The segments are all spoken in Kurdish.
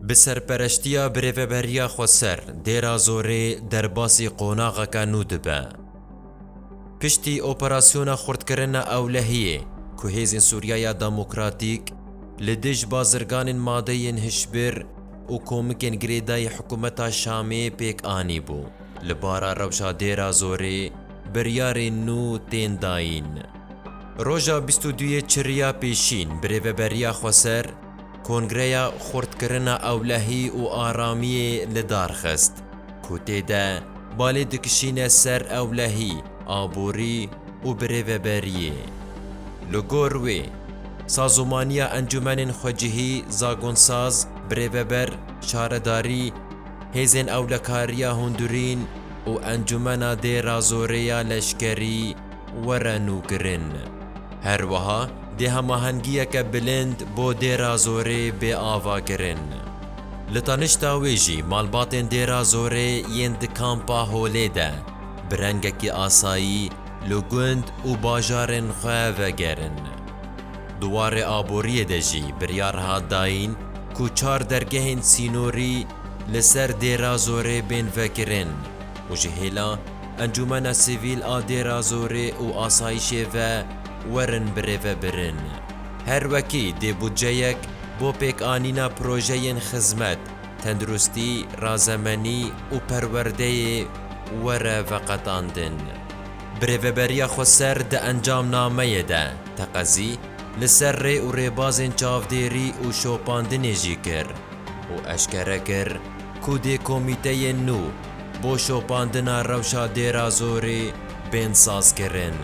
Bi serpereştiya Birêveberiya Xweser Dêra Zorê derbasî qonaxeke nû dibe. Piştî operasyona xurtkirina ewlehiyê ku Hêzên Sûriyaya Demokratîk li dij bazirganên madeyên hişbir û komikên girêdayî hikûmeta Şamê pêk anîbû, li bara rewşa Dêra Zorê biryarên nû tên dayîn. Roja bîst û duyê Çirîya Pêşîn Birêveberiya Xweser, Kongreya Xurtkirina Ewlehî û Aramiyê li dar xist, ku tê de balê dikişîne ser ewlehî, aborî û birêveberiyê. Li gor wê, sazomaniya encûmenên xwecihî, zagonsaz, birêveber, şaredarî, hêzên ewlekariya hundirîn û encûmena dê razorê ya leşkerî, were nûkirin. Her wiha dê hemahengiyeke bilind bo Dêra Zorê bê avakirin. Li tanişta wê jî malbatên Dêra Zorê yên di Kampa Holê de bi rengekî asayî li gund û bajarên xwe vegerin. Di warê aboriyê de jî biryar hat dayîn ku çar dergehên sînorî li ser Dêra Zorê bên vekirin û ji hêla Encûmena Sivîl a Dêrazorê û Asayîşê ve werin birêve birin. Her wekî dê budceyek bo pêkanîna projeyên xizmet, tenduristî, razemenî û perwerdeyê were veqetandin. Birêveberiya Xweser di encamnameyê de teqezî li ser rê û rêbazên çavdêrî û şopandinê jî kir. û eşkere kir ku dê komîteyên nû bo şopandina rewşa Dêrazorê bên sazkirin.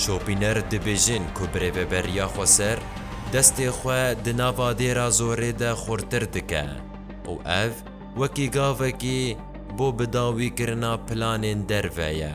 Şopîner dibêjin ku birêveberiya xweser destê xwe di nava Dêrazorê de xurtir dike û ev wekî gavekî bo bidawîkirina planên derve ye.